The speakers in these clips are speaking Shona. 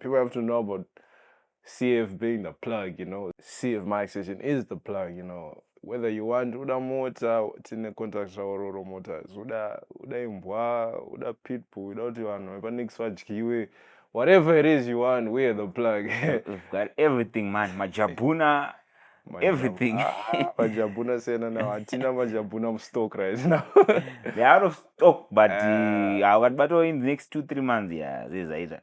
people have to know about CF being the plug, you know. CF mic session is the plug, you know. Whether you want uda mota tine contact zvaororo mota uda uda imbwa uda pitbull uda kuti vanhu vepanix vadyiwe whatever it is you want we're the plug we've got everything man majabuna everything ah, majabuna sena now hatina majabuna mustock right now they out of stock but eh. ah, vakatibatawo in the next two three months yeah zvezvaita yeah,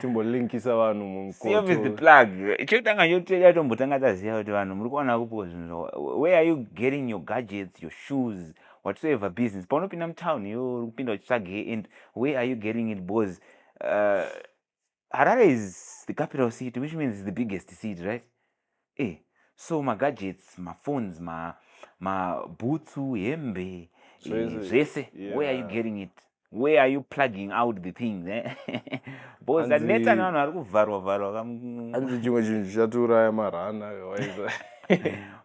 timbolinkisa vanhu mumchekutanga choteda tombotanga taziva kuti vanhu muri kuwana kupo zvinhu zva where are you getting your gadgets your shoes whatsoever business paunopinda mutown yo uri kupinda uchitsvage and where are you getting it bcause uh, harare is the capital city which means the biggest city right Eh, so magadgets, maphones, ma mabhutsu, hembe, eh, zvese. Yeah. Where are you getting it? Where are you plugging out the things? Eh? Because that neta nevanhu vari kuvharwa vharwa kamu. Anzi chimwe chinhu chichatiuraya marana waiza.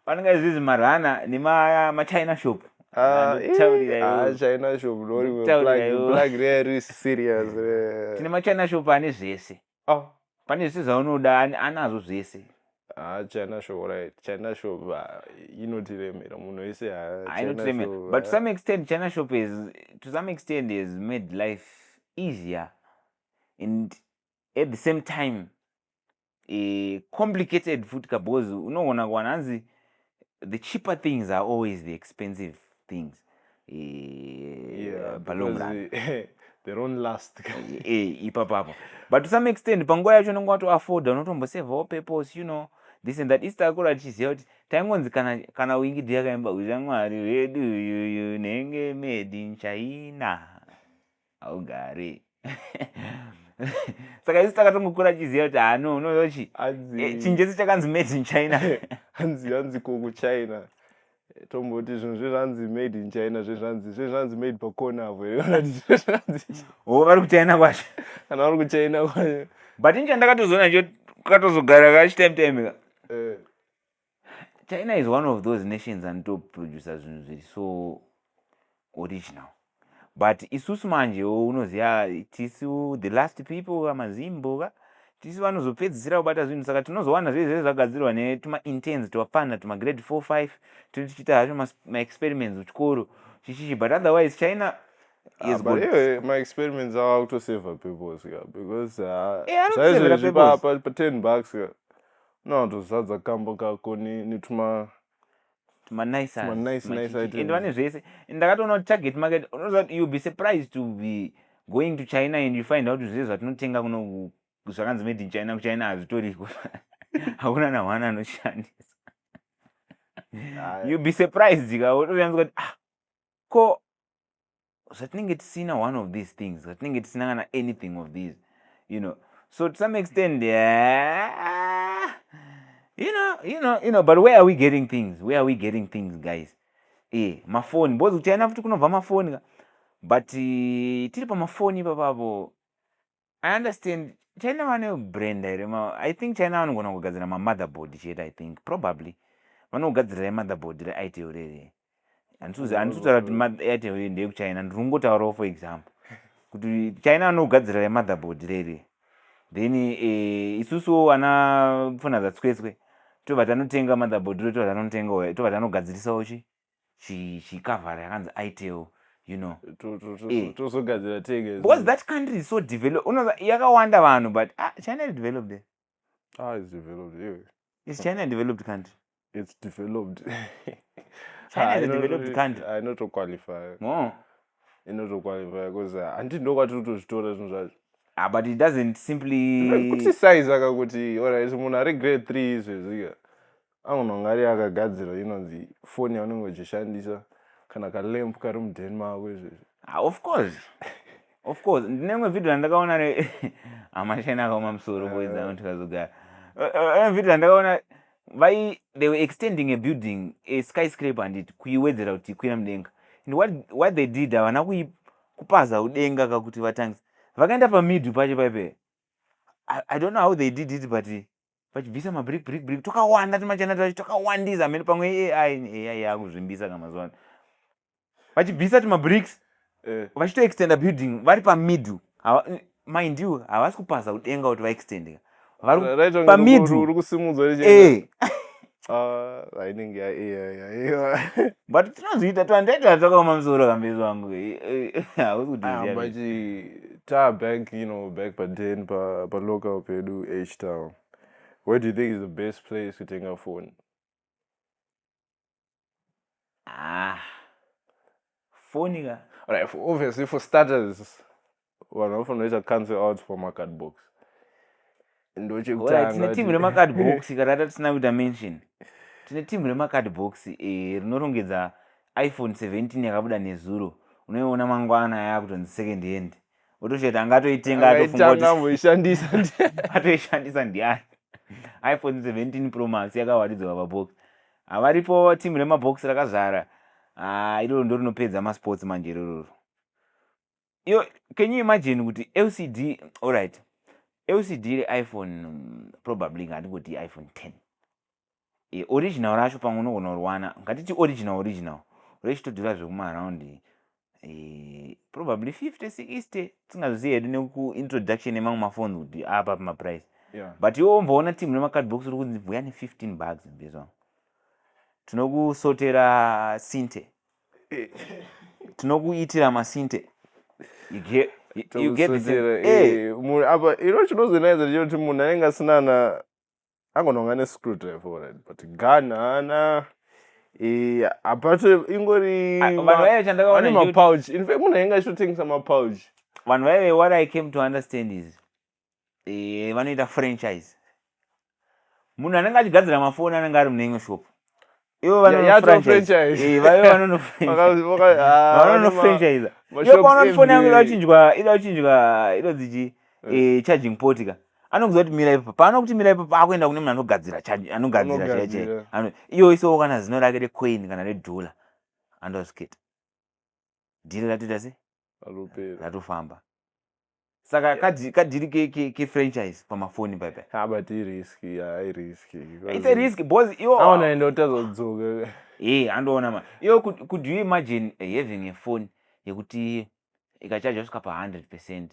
Panenge izvizvi marana nema machina shop. Ah, eh, ah, china shop lori plug plug re serious re. Tine machina shop ane zvese. oh pane zvese zvaunoda anazo zvese haa ah, china show right china show inotiremera munhu wese hainotiremera ah, but to some extent china shop is to some extent has made life easier and at the same time e, complicated futi kabhozi unoona kuwana hanzi the cheaper things are always the expensive things ipapapo but to some extent panguva yacho unenge watoafforda unotombosevawo purpose you know this and that east akura tichiziva kuti taingonzi kana, kana wingidi yakaimba uya mwari wedu uyuyu nenge made in china haugari saka isu takatongokura tichiziva kuti hano unozochi eh, chinjesi chakanzi made in china hanzi hanzi ko kuchina tomboti zvinhu zvezvanzi made in china zvezvanzi zvezvanzi made pakona avo o vari kuchina kwacho kana vari kuchina kwacho but incha ndakatozoona cho katozogara kachitime time ka eh. china is one of those nations anitoproducer zvinhu zviri so original but isusu manje unoziva tisu the last people amazimbo ka tisu vanozopedzisira kubata zvinhu saka tinozowana zvezve zvagadzirwa netumaintens twapfana tumagrade four five tichiita hazvo maexperiments uchikoro chichichi but otherwise china maexperiments ava kutoseva peoples ka because ah, eh, zvaizvozvipapa ten bucks ka No, tozadza kambo kako netuma tumanice and vane zvese and ndakatoona kuti target market unoziva kuti youll be surprised to be going to china and you find out zvese zvatinotenga kuno zvakanzi made in china kuchina hazvitoriko hakuna nahwana anoshandisa youll be surprised ka utoyanzwa kuti ah ko zvatinenge tisina one of these things zvatinenge tisina kana anything of these you know so to some extent yeah, you know you know you know but where are we getting things where are we getting things guys e mafoni bozi kuchina futi kunobva mafoni ka but eh, tiri pamafoni ipapavo i understand china vane brenda here i think china vanogona kugadzira mamotherboard chete i think probably vanogadzirira imotherboard reitel rere handisutaura kuti airtel iyo ndeyekuchina ndiri kungotaurawo for example kuti china vanogadzirira imotherboard rere then eh, isusuwo ana pfuna dzatswetswe tobva tanotenga motherboard ro tobva tanotenga tobva tanogadzirisawo chi chicover yakanzi itel you know eh. tozogadzira tege because that country is so developed unoza yakawanda vanhu but ah, china is developed there ah it's developed yeah. is china a developed country it's developed china is a developed country i not to qualify no i not to qualify because uh, anti ndo kwati kutozvitora zvinhu zvacho ah but it doesn't simply kuti size akakuti alright munhu ari grade 3 izvezvika anonongari yakagadzirwa inonzi foni yaunenge uchishandisa kana kalemp kari mudheni mako izvezvi ah, of course of course ndine imwe vhidhio yandakaona ne amashani akaoma musoro boiza eh. tikazogara eh, eh, imwe vhidhio yandakaona vai they were extending a building a sky scrape handiti kuiwedzera kuti ikwira mudenga and what, what they did havana kupaza udenga kakuti vatangisa vakaenda pamidhu pacho paipe i don't know how they did it but vachibvisa mabrick brick brick twakawanda tumachana twacho twakawandisa hameno pamwe ai ai yakuzvimbisa kana mazuva ano vachibvisa tumabricks eh. vachitoextenda building vari pamiddle mind you havasi kupasa kudenga kuti vaextendeka vari pamiddle uri kusimudzwa eh. Ah, ainenge yaiva but tinozviita twandaita takaoma musoro kambezi wangu hausi kutiziabachi taa back you know back paden palocal pedu h town where do you think is the best place kutenga phone ah foni ka right for obviously for starters vanhu vanofanira kuita cancel out for macard box ndochekutanga tine timu remacard box kana tatisina kuita mention tine timu remacard box eh, rinorongedza iphone 17 yakabuda nezuro unoiona mangwana yaakutonzi second hand otozviti anga atoitenga atofungaoishandisa atoishandisa ndiani iphone 17 pro max yakawaridzwa pabox havaripo timu remabox rakazara ah, iroro ndo rinopedza masports manje irororo iyo can you imagine kuti lcd allright lcd reiphone probably ngatingoti iphone 10 e, original racho pamwe unogona kuriwana ngatiti original original rechitodhura zvekumaraundi e, probably 50 60 tisingazozivi hedu nekuintroduction yemamwe mafoni kuti apa pamaprice yeah. but iwo omboona team nemacardbox uri kunzi vuya ne15 bugs mbezwa tinokusotera sinte eh. tinokuitira masinte you get Eh, apa ino chinozonaidza chekuti munhu anenge asina na angononga ne screw driver already but gun haana eh, apate ingori Ah, vanhu vaive chandakaona vane ndechuti- mapouch in fact munhu ainge achitotengesa mapouch vanhu vaive what i came to understand is eh, vanoita franchise munhu anenge achigadzira mafoni anenge ari mune imwe shop ivo vanonofranchise yopaunofona yangu idachinjwa idachinjwa idodziji eh, charging poti ka anokuziva kuti mira ipapo paanokuti mira ipapo akuenda kune munhu anogadzira anogadzira chaiye chaiye iyo isowo kana zino rake recoin kana redhula andoskit dhiri ratoita se ratofamba saka kadhiri kefranchise pamafoni paipaabut irisk irisk its a risk bcause iwo aona ende utazodzoka e andoona ma iwo could you imagine having a phone yekuti ikachajwa svika pa 100 percent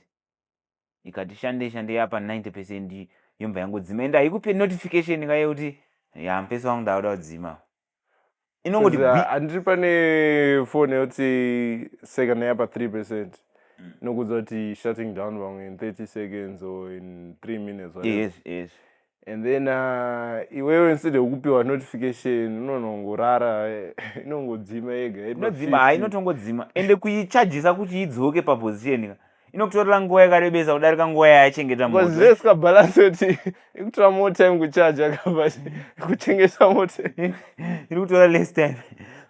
ikati shandei shandei yapa 90 percent yobva yangodzima ende haikupe notification kaye kuti ya mupesi wangu ndakuda kudzima inongoti Because, bi- uh, handiri pane phone yoti second yapa 3 percent Mm. nokuudza kuti shutting down vamwe in 30 seconds or in 3 minutes whatever. yes yes and then uh, iwewe instead yekupiwa notification unonongorara inongodzima yega inodzima ha inotongodzima ende kuichajisa kuti idzoke paposition ka inokutorera nguva yakarebesa kudarika nguva yayachengeta motozvesika balance kuti ikutora more time kuchaja kaba kuchengeta moto iri kutora less time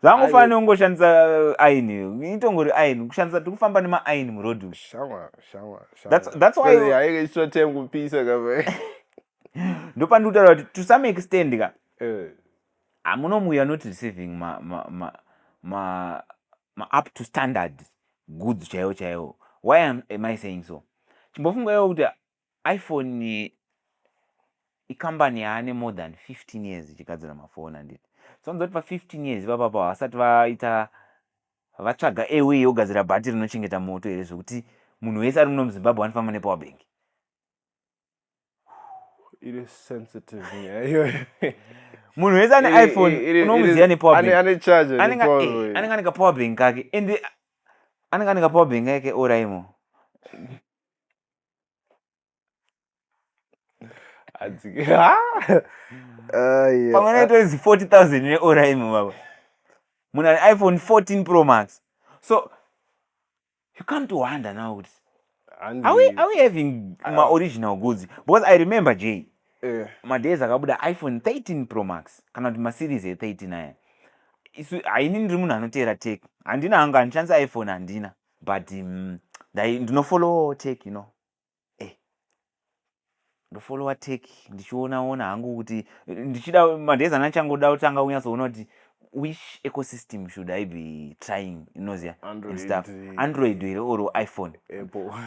zvangofanira neungoshandisa uh, aini itongori aini kushandisa tikufamba nemaaini muroad shamwari shamwari that's, that's why haikaitwa time kupisa kava ndopandi kutaura kuti to some extend ka eh. hamuno muya not receiving ma, ma, ma, ma, ma up to standard goods chaiwo chaiwo why am, am i saying so chimbofunga iwo kuti iphone ikambani yaane more than 15 years ichigadzira mafoni handiti so nzoti pa 15 years ipapapa vasati vaita Vatsvaga a way yogadzira bhatiri rinochengeta moto here zvekuti munhu wese ari muno muzimbabwe anofamba nepower bank iri sensitive nyaya iyoyo munhu wese ane Iri- iphone iri- iri- unomuziva iri- nepower ane- bank ane charge iri anenge power eh, uyu. anenge ane kapower bank kake and anenge ane kapower bank kake oraimo pamwe naito izi 40000 neoraimo baba munhu ane iphone 14 pro max so you come to wonder now kuti are we, are we having uh, maoriginal goods because i remember j eh. madays akabuda iphone 13 pro max kana kuti maseries e13 aya isu haini ndiri munhu anoteera tek handina hangu handishandisa iphone handina but um, ndinofollow tek you know eh, ndofollowa tek ndichiona ona hangu kuti ndichida madays ana changoda kutanga kunyatsoona kuti which ecosystem should i be trying inoziva and stuff eh, android here or iphone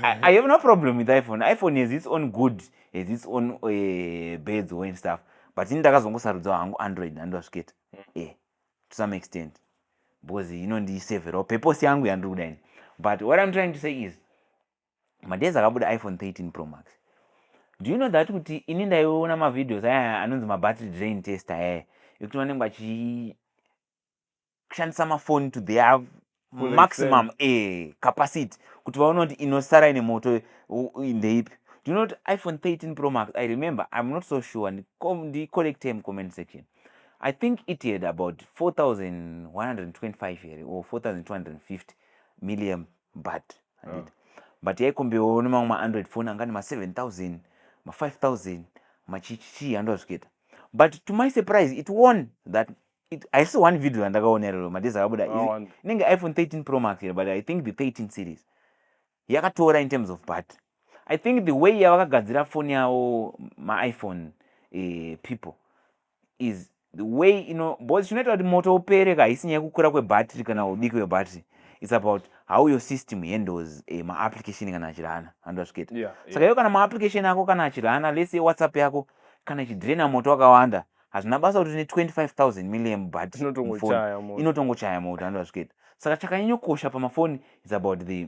I, i have no problem with iphone iphone has its own good has its own uh, eh, beds or and stuff but ini ndakazongosarudzawo hangu android andivasviketa mm. e eh, to some extent because inondisevherawo purpose yangu yandiri kuda ini but what i'm trying to say is madays akabuda iphone 13 pro max do you know that kuti ini ndaiona mavideos aya anonzi mabattery drain test ayaya ekuti vanenge vachishandisa mafoni to their maximum e capacity kuti vaona kuti inosara ine moto ndeipi do you know kuti iphone 13 pro max i remember im not so sure ndicollect time comment section i think it had about 4125 here or 4250 milliam but handiti but yaikombewo nemamwe maandroid phone anga nema 7000 ma 5000 machichichii handiwa zviketa but to my surprise it won that haisi one video yandakaona iroro madhezi akabuda inenge iphone 13 pro max here but i think the 13 series yakatora in terms of battery i think the way yavakagadzira foni yavo maiphone uh, people is the way ino bcause chinoita kuti moto upere ka haisi nyaya yekukura kwebattery kana udiki hwebattery its about how your system handles eh, maapplication kana achirana vanhu vasviketa yeah, yeah. saka iwe kana maapplication ako kana achirana lese whatsapp yako kana ichidraina moto wakawanda hazvina basa kuti ne 25000 milliam but inotongochaya moto vanhu vasviketa saka chakanyanyokosha pamafoni is about the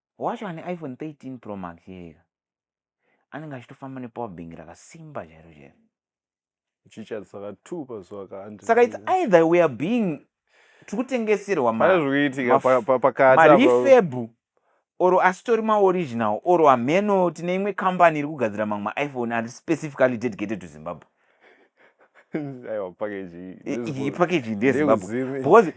wacho ane iphone 13 pro max yega anenge achitofamba nepower bank rakasimba chairo chairo saka its either we are being tiri kutengeserwa marifebhu or asitori maoriginal or hameno tine imwe kambani iri kugadzira mamwe maiphone ari specifically dedicated to zimbabwe ipakeji ndezimbabwe because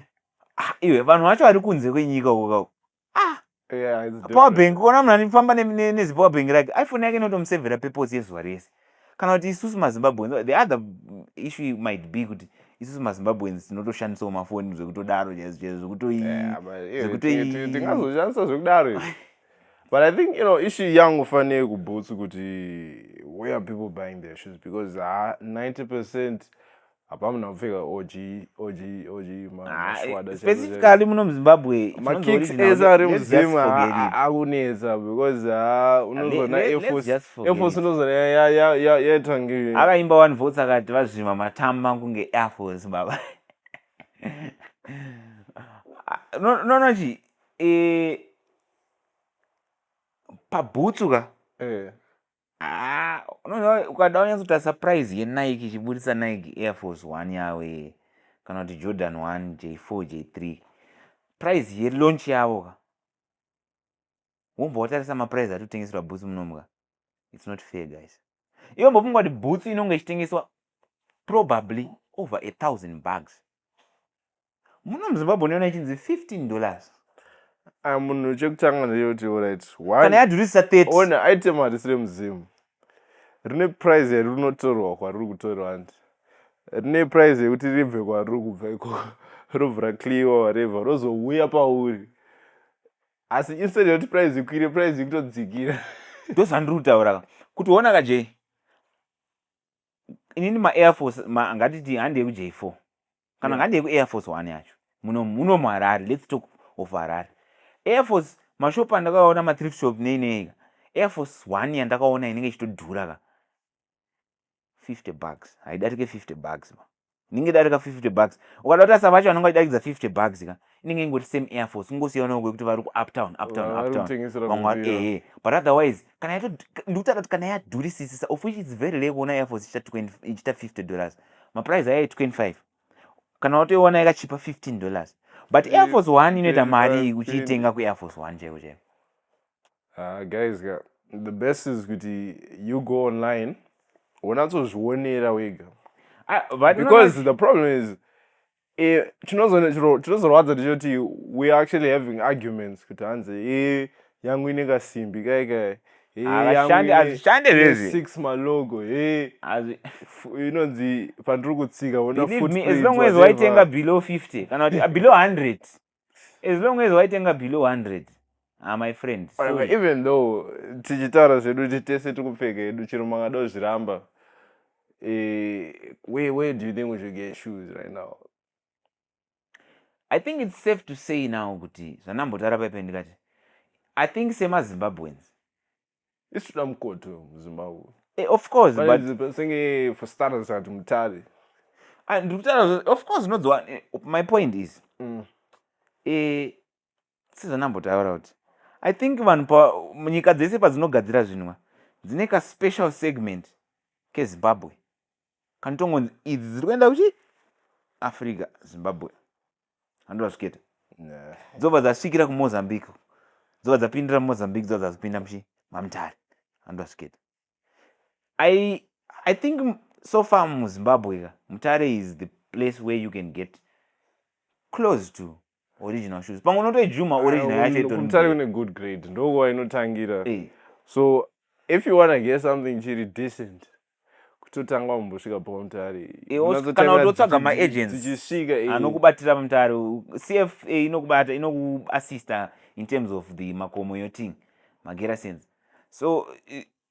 ah, iwe vanhu vacho vari kunze kwenyika ukao ah yeah, it's power different. bank ukaona munhu anifamba ne- ne- nezipower bank rake iphone yake inotomusevhera purpose yezuva rese kana kuti isusu mazimbabweans the other mm, issue might be kuti isusu mazimbabweans tinotoshandisawo mafoni zvekutodaro chaizvo chaizvo zvekutoi Yeah, but, eh, zvekutoi- ti- ti- tingazoshandisa zvekudaro izvi. but i think you know issue yangu fanei kubhutsu kuti where are people buying their shoes because ha 90 percent hapamuna kupfeka og og og maswada specifically muno muzimbabwe makicks ese ari muzimu akunetsa because unozoona airforce unozoona yaita nge akaimba one votes akati vazvima matama kunge airforce baba no no no chi e, pabhutsu ka eh. Ah, unoziva ukada unyatsoita surprise yenike ichiburitsa nike air force one yavo iye kana kuti jordan one j four j three price yelaunch yavo ka wombo watarisa maprice ati kutengeserwa bhutsu munomuka its not fair guys iwe mbofunga kuti bhutsu inonge ichitengeswa probably over a thousand bugs muno muzimbabwe unoona ichinzi 15 dollars ah, munhu chekutanga ndeyoti orit kana yadhurisisa 30 ona item harisi remuzimu rine prize yari rinotorwa kwariri kutorwa andi rine prize yekuti ribve kwariri kubva ikoko robvura cleawa wareva rozouya pauri asi instead yekuti prize ikwire prize ikutodzikira ndozvandiri kutaura ka kuti ona ka jay inini maair force ngatiti handi yekuj four kana yeah. ngandei kuair force one yacho muno muno muharare let's talk of harare air force mashop andakaona mathrift shop nei nei air force one yandakaona inenge ichitodhura ka 50 bucks haidarike 50 bucks ma inenge idarika 50 bucks ukada kuti asavacho anenge achidarikidza 50 bucks ka inenge ingori same air force kungosiyanawo kwekuti vari kuuptown uptown uptown ehe but otherwise kana yato ndikutaura kuti kana yadurisisisa of which its very lekuona air force ichita 50 dollars maprice ayo 25 kana watoiona yakachipa 15 dollars but air force one inoita mari uchiitenga kuair force one chaiko chaiko ah, guys the best is kuti you go online wonatsozvionera wega ah, because the problem is Eh, tinozorwadza tichoti we are actually having arguments kuti hanzi e yangu ine kasimbi kai kai hazvishande zvezvisix malogo he inonzi pandiri kutsika as long as waitenga below 50 kana kuti below 100 as long as waitenga below 100 ah, my friend Whatever, even though tichitaura zvedu kuti tese tikupfeka hedu chero mangada kuzviramba eh, where, where do you think we should get shoes right now i think it's safe to say now kuti zvandambotara paipe ndikati i think semazimbabweans isvira mukoto muzimba uyu eh, of course but senge for starters ati mutare ah, ndiri kutaura of course unodziwa eh, my point is mm. eh, sezvanambotaura kuti i think vanhu munyika dzese padzinogadzira zvinwa dzine kaspecial segment kezimbabwe kanotongonzi idzi dziri kuenda kuchi africa zimbabwe handiva zviketa dzobva dzasvikira kumozambique dzobva dzapindira mumozambique dzobva dzazopinda muchi mamutare handiva zviketa i i think so far muzimbabwe ka mutare is the place where you can get close to original shoes pamwe unotoijuma original yacho itomutari une good grade ndokuva inotangira eh. so if you wanna get something chiri decent kutotanga wambosvika pamutare kana utotsvaga maagentstichisikaaanokubatira eh. anokubatira pamutare cfa eh, inokubata inokuassista in terms of the makomo yoting magerasense so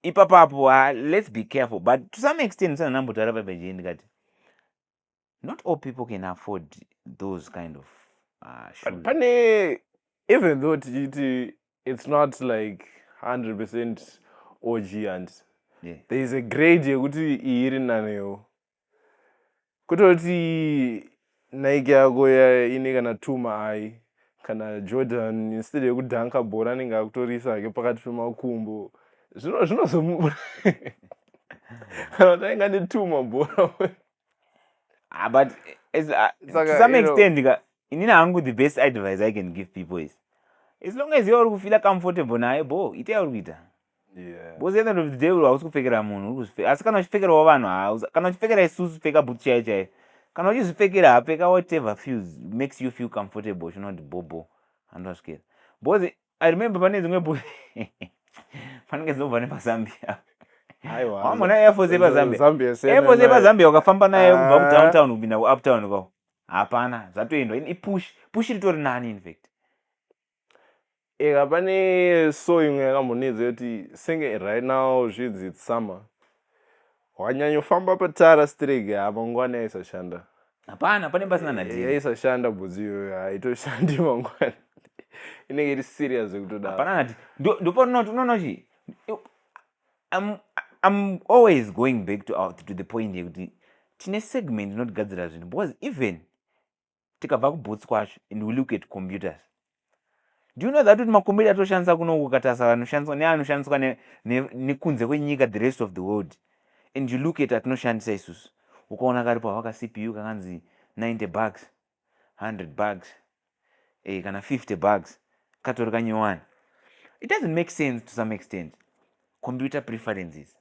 ipapapo uh, let's be careful but to some extent sananambotara pabejei ndikati not all people can afford those kind of uh, shoes. Pane, even though tichiti it's not like 100 percent OG and yeah. there is a grade yekuti iyi iri nanewo kutoti nike yako ine kana two maai kana jordan instead yekudanka bhora anenge akutorisa ake pakati pemakumbo zvinozomu kana tainga netuma bhora ah, but as, uh, ah, like, to some extent know, inini hangu the best advice i can give people is as long as iwe uri kufila comfortable naye bo ite yauri kuita because yeah. end of the day hausi kupfekera munhu asi kana uchipfekerawo vanhu kana uchipfekera isusu pfeka bhut chaiyo chaiyo kana uchizvipfekera hapfeka whatever feels makes you feel comfortable chinoti bobo andwasvikera because i remember pane dzimwe bu fanenge dzinobva nepazambia wamona airforce yepazambia airforce yepazambia wakafamba naye kubva ah. kudowntown kupinda kuuptown kwavo hapana zvatoendwa ipush push ritori nani infact eka pane so imwe yakambonidza yoti senge right now zvinzi its summer Wanyanyofamba patara strege apa ngwani yaisashanda. Hapana pane pasina nadhiri. Yaisashanda bhudzi iyoyo haitoshandi mangwana. Inenge iri serious zvekutoda. Hapana nati. Ndopaona kuti unoona kuti I'm I'm always going back to out to the point yekuti tine segment inotigadzira zvinhu because even tikabva kuboots kwacho and we look at computers do you know that kuti makombiyuta atoshandisa kuno kukatarisa vanoshandiswa neanoshandiswa nekunze kwenyika the rest of the world and you look at atinoshandisa isusu ukaona karipo havaka cpu kakanzi 90 bugs 100 bugs eh, kana 50 bugs katori kanyowani it doesn't make sense to some extent computer preferences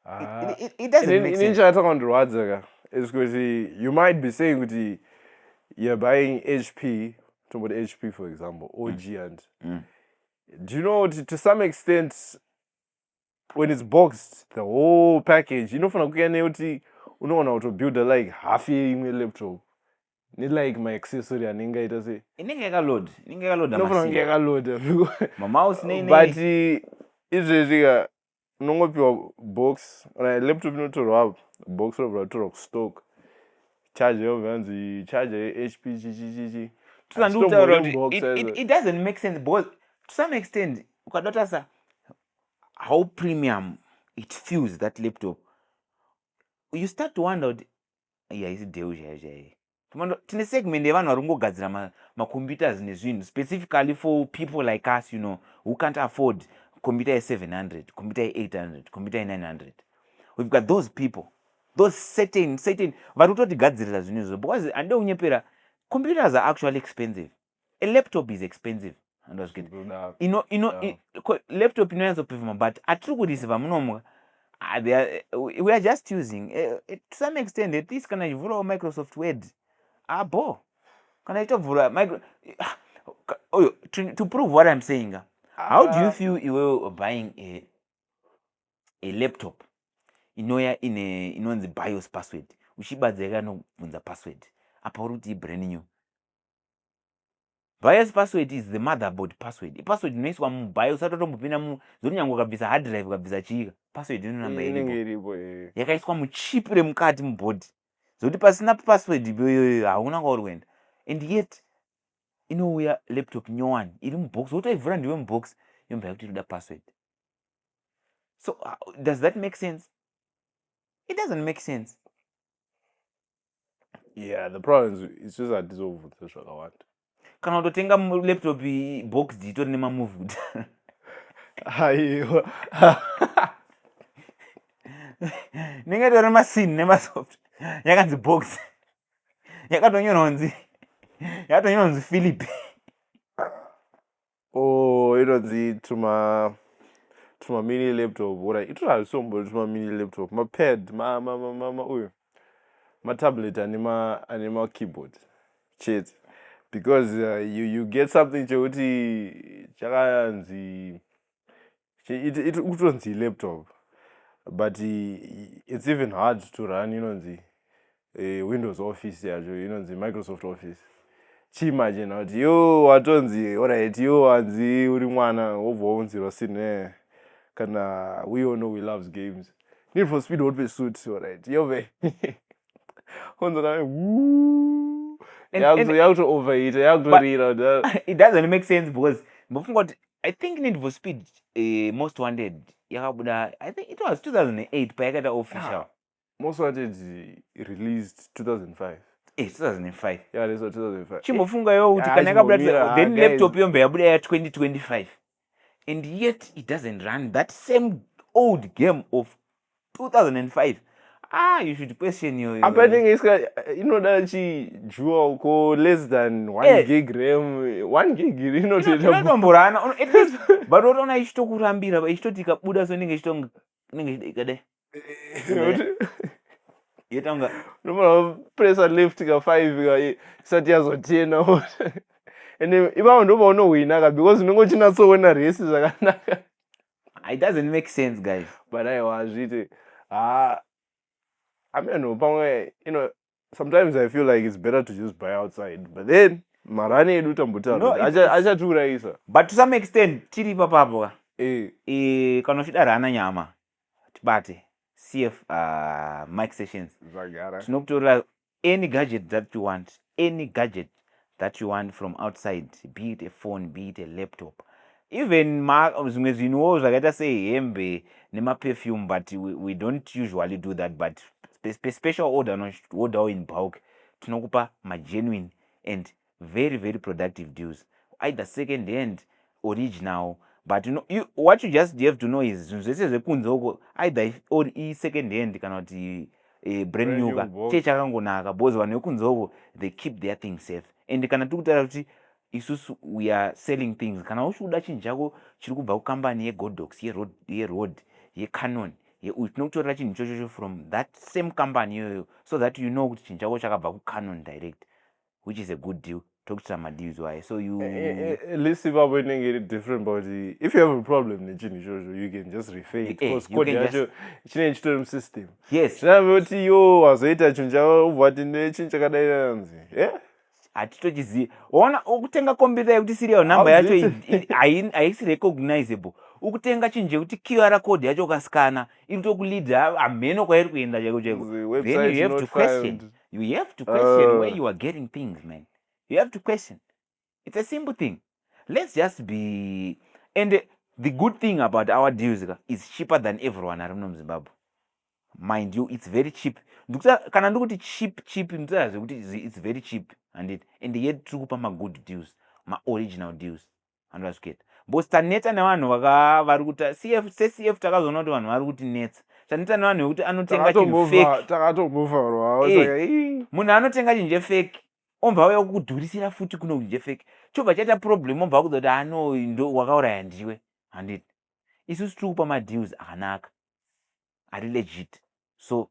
ah. ini chatanga kundirwadza ka is kuti you might be saying kuti you're buying hp tomboti hp for example or mm. giant mm. do you know kuti to some extent when it's boxed the whole package inofanira kuya nekuti unoona kutobuilda like half yeimwe laptop nelike maaccessory anenge aita sei inenge yakaload inenge yakaload inofanira kunge yakaload mamouse nei but izvezvi ka unongopiwa box kana laptop inotorwa apo box robva ratorwa kustock charge yobva yanzi charge yehp chichichichi tisandiutaura kuti it doesn't make sense because to some extent ukada tasa how premium it feels that laptop you start to wonder kuti iyi haisi deu chaiyo chaiyo tine segment yevanhu vari kungogadzira macomputers ma nezvinhu specifically for people like us you know who can't afford computer ye700 computer ye800 computer ye900 we've got those people those certain certain vari kutotigadzirira zvinhu izvo because handide kunyepera computers are actually expensive a laptop is expensive ino ino laptop inonyanzo performa but atiri kuriseva munomuka ah, we are just using eh, eh, to some extent at least kana ichivhurawo microsoft word abo ah, kana ichitovhura ah, oyo to prove what im saying how do you feel iwewe buying a, a laptop inouya ine inonzi bios password uchibadza yakanobvunza password apa uri kuti ibrand new bios password is the motherboard password ipassword inoiswa mubios atotombopinda mu zoti nyange ukabvisa hard drive ukabvisa chiika password inonamba iripo eh. yakaiswa muchip remukati mubody zoti pasina password iyoyoyo hauna kwauri kuenda and yet inouya laptop nyowani iri mubox wotoivhura ndiwe mubox yomba yakuti inoda password so uh, does that make sense it doesn't make sense yeah the problem is isu hatizobvunza zvakawanda kana kutotenga laptop box itori nemamuvuta aiwa ndinge tori masin nemasoft yakanzi box yakatonyorwa kunzi yakatonyorwa kunzi philip oh inonzi tuma tuma mini laptop ora ito hazvisombori tuma mini laptop mapad ma, ma, ma, ma, ma uyu matablet ane ma ane ma keyboard chete because uh, you, you get something chekuti chakanzi kutonzi laptop but it's even hard to run inonzi eh, windows office yacho inonzi microsoft office chiimagine kuti yo watonzi orit yo wanzi uri mwana wobva waunzirwa sine kana we all know we loves games need for speed hotpe suit orit yove onzo kana yakuto overheater yakutorira it doesn't make sense because mbofunga kuti i think need for speed uh, most wanted yakabuda i think it was 2008 payakaita official yeah. most wanted released 2005 Eh, 2005 yeah, leso 2005 chimbofunga yo kuti kana yakabuda then ah, laptop yombe yabuda ya 2025 and yet it doesn't run that same old game of 2005 ah you should question your apa inenge iska inoda chi jewel ko less than 1 eh. gig ram 1 gig inototomborana at least but unotoona ichitokurambira ichitoti ikabuda so inenge ichitonga inenge ichida ikadai yetanga nomara pressure left ka 5 ka isati yazotena ende ipapo ndopaunohwina ka because unenge uchinatsoona resi zvakanaka Ah, it doesn't make sense guys but aiwa hazviite ha ameno pamwe you know sometimes i feel like it's better to just buy outside but then marani edu No, tambotaura it's- kuti acha- achatiurayisa but to some extent tiri ipapapo ka Eh, Eh, kana uchida rana nyama tibate cf uh, mike sessions zvagara tinokutorera any gadget that you want any gadget that you want from outside be it a phone be it a laptop even zvimwe zvinhuwo zvakaita sehembe nemaperfume but we, we don't usually do that but special order wodawo in bulk tinokupa magenuine and very very productive deals either second hand original but you know, you, what you just have to know is zvinhu zvese zvekunze uko either or isecond hand kana kuti e, brand new ka chee chakangonaka because vanhu vekunze uko they keep their thing safe and kana tiri kutaura kuti isusu we are selling things kana uchikuda chinhu chako chiri kubva kukambani yegodox yeroad ye yecanon uyu tinokutorera chinhu ichochocho from that same company iyoyo so that you know kuti chinhu chako chakabva kucanon direct which is a good deal tokutsira madeals waye so you eh, eh, eh, at least ipapo inenge iri different but if you have a problem nechinhu ichozvo you can just refaint because code yacho chinenge chitori musystem yes chinave kuti yo wazoita chinhu chavo ubva kuti nechinhu chakadai anzi e hatitochizivi ona ukutenga computer yekuti serial number yacho haisi recognizable ukutenga chinhu chekuti qr code yacho ukasikana iri tokuleader hamheno kwairi kuenda chaiko chaiko then you have to question you have to question uh. where you are getting things man you have to question it's a simple thing let's just be and the good thing about our deals is cheaper than everyone ari muno muzimbabwe mind you it's very cheap kana ndikuti cheap cheap ndikutaa zvekuti it's very cheap handiti and yet tiri kupa magood deals maoriginal deals andazviketa bcause taneta nevanhu vakavari kuti cf secf takazoona kuti vanhu vari kuti netsa taneta nevanhu vekuti anotenga chinhu fake takatomuvharwa eh, munhu anotenga chinhu chefake ombva auya kukudhurisira futi kuno kuti chefake chobva chaita problem ombva akuza kuti ano ndo wakauraya ndiwe handiti isusu tiri kupa madeals akanaka ari legit so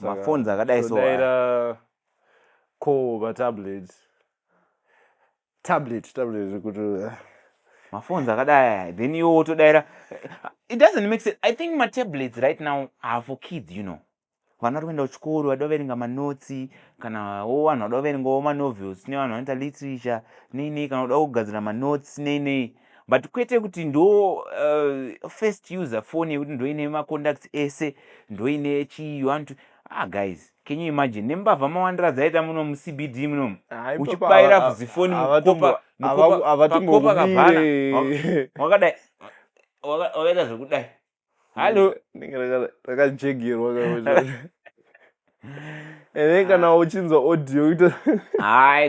maphones akadai so daira ko vatablet tablet tablet kuti eh. maphones akadai then iwo wotodaira it doesn't make sense i think matablets right now are for kids you know vana vari kuenda kuchikoro vada kuverenga manotsi kana wo vanhu vada kuverengawo manovels nevanhu vanoita literature nei nei kana kuda kugadzira manotsi nei nei but kwete kuti ndo uh, first user phone yekuti ndoine macontacts ese ndoine chii you want to ah guys can you imagine nembavha mawandira dzaita muno mucbd munomu uchibaira vuzifoni mukopa mukopa kavhana wakadai wakaita zvekudai hallo rakajegerwa and then kana uchinzwa audio it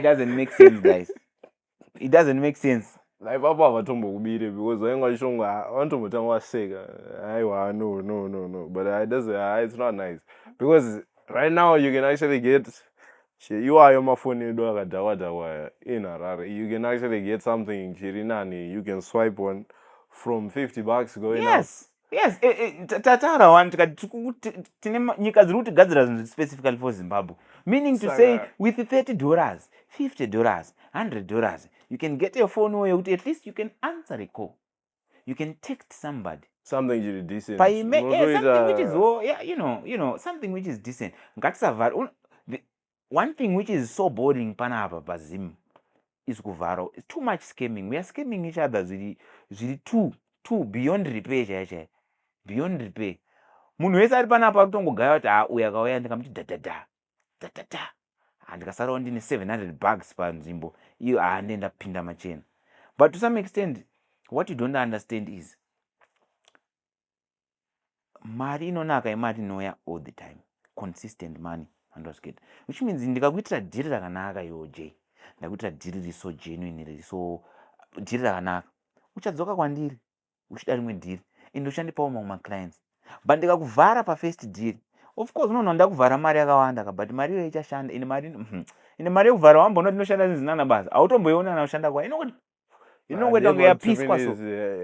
doesn't make sense guys it doesn't make sense naipapo havatombokubire because vainge vachishonga ah, vanotombotanga vaseka aiwa ah, no no no no but ah, it doesn't, uh, it's not nice because right now you can actually get iwayo mafoni edu akadhakwa dhakwa in harare you can actually get something chiri nani you can swipe on from 50 bucks going yes. up yes eh, eh, ta- tataura wani tikati tiri ku- ti- tine ma- nyika dziri kutigadzira zvinhu specifically for zimbabwe meaning to Saka- say with 30 dollars 50 dollars 100 dollars you can get a phone way yekuti at least you can answer a call you can text somebody something chiri decent paime eh, something which is Unotoita- wo- yeah, you know you know something which is decent ngatisavhara un- the- One thing which is so boring pana apa paZim is kuvhara. It's too much scamming. We are scamming each other zviri zviri too too beyond repair chaiye chaiye. Beyond repair. Munhu wese ari pana apa kutongogaya kuti ah uya kauya ndikamuti da da da. Da da da. Andikasarawo ndine 700 bucks panzvimbo iyo ah ndenda pinda machena. But to some extent what you don't understand is mari inonaka imari inouya all the time consistent money andozviketa which means ndikakuitira dhiri rakanaka iwo j ndakuitira dhiri riso genuine riri so dhiri rakanaka uchadzoka kwandiri uchida rimwe dhiri ende uchandipawo mamwe maclients but ndikakuvhara pafirst dhiri of course unoona ndakuvhara mari yakawanda ka but mari iyoyo ichashanda ende mari mhm. ende mari yekuvhara wambonoti inoshanda zinzinana basa hautomboiona anoshanda kwa inokuti inongoita kunge yapiswa so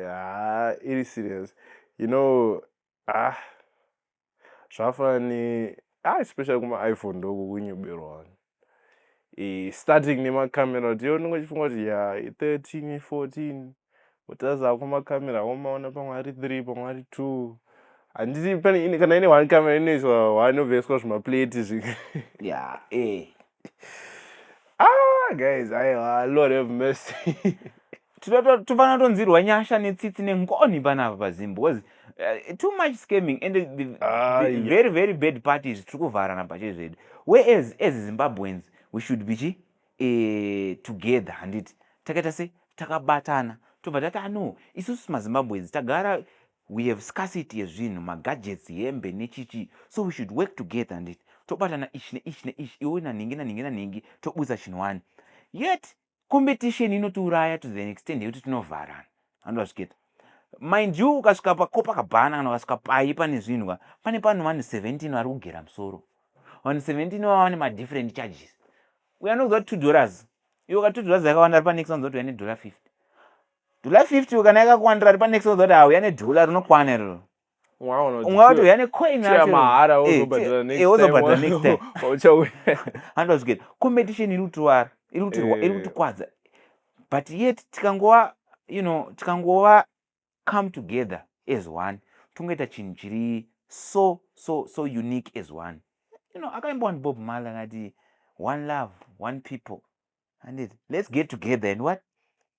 ah, iri serious you know ah zvafani ah especially kuma iphone ndoko kunyoberwa e, starting nemacamera kuti yo ndinge chifunga kuti ya 13 14 utaza kuma camera womaona pamwe ari 3 pamwe ari 2 handiti pane kana ine one camera inoiswa one oveswa zvimaplate zvi ya eh ah guys aiwa lord have mercy tinofanira tonzirwa nyasha netsitsi nengoni panapa pazimbo bcause uh, too much scamming and the, the, uh, the ah, yeah. very very bad parties tiri kuvharana pache zvedu whereas as zimbabweans we should be chi eh, together handiti takaita se takabatana tobva tati ano ah, isusu mazimbabweans tagara We have scarcity yezvinhu, magadgets, hembe nechichi so we should work together handiti tobatana ichi neichi neichi iwe nanhingi nanhingi nanhingi tobudisa chinhu wani yet competition inotiuraya to the extent yekuti tinovharana handu vazviketa mind you ukasvika pako pakabhana kana ukasvika payi pane zvinhu ka pane pano vanhu 17 vari kugera musoro vanhu 17 vava vane madifferent charges uyo anokuziva kuti two dollars iwe ka two dollars yakawanda ari panext anoziva kuti uya nedollar 50 Dhula 50 kana yakakuwandira ripa next ozoda hauya nedhula rinokwana iroro. Ungawati uya necoin yacho. Mahara eh, wozobhadhara next eh, time. Eh wozobhadhara next time. Uchauya. Hando zviketi. Competition iri kutiwara, iri kutirwa, iri eh. kutikwadza. But yet tikangova you know tikangova come together as one tongoita chinhu chiri so so so unique as one you know akaimba one bob mal akati one love one people andit let's get together and what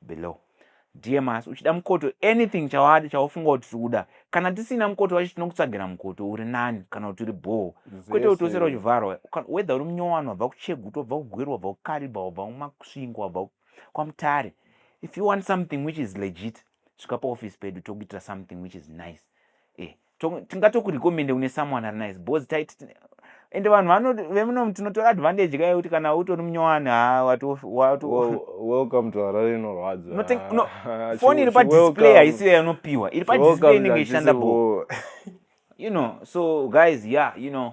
below. DMAS uchida mukoto anything chawadi chaufunga kuti tikuda kana tisina mukoto wacho tinokutsvagira mukoto uri nani kana kuti uri bhoo kwete kuti usera uchivharwa whether uri munyowani wabva kuchegutu wabva kugweru wabva kukariba wabva kumasvingo wabva kwamutare if you want something which is legit svika paoffice pedu tokuitira something which is nice eh tingatoku recommende kune someone ari nice bos tit ende vanhu vano vemunomu tinotora advantage kaye kuti kana utori munyowani ha watoweelcome to harare inorwadzafoni iri padisplay haisiyo yanopiwa iri padisplay inenge ishanda bo you know so guys yeah you know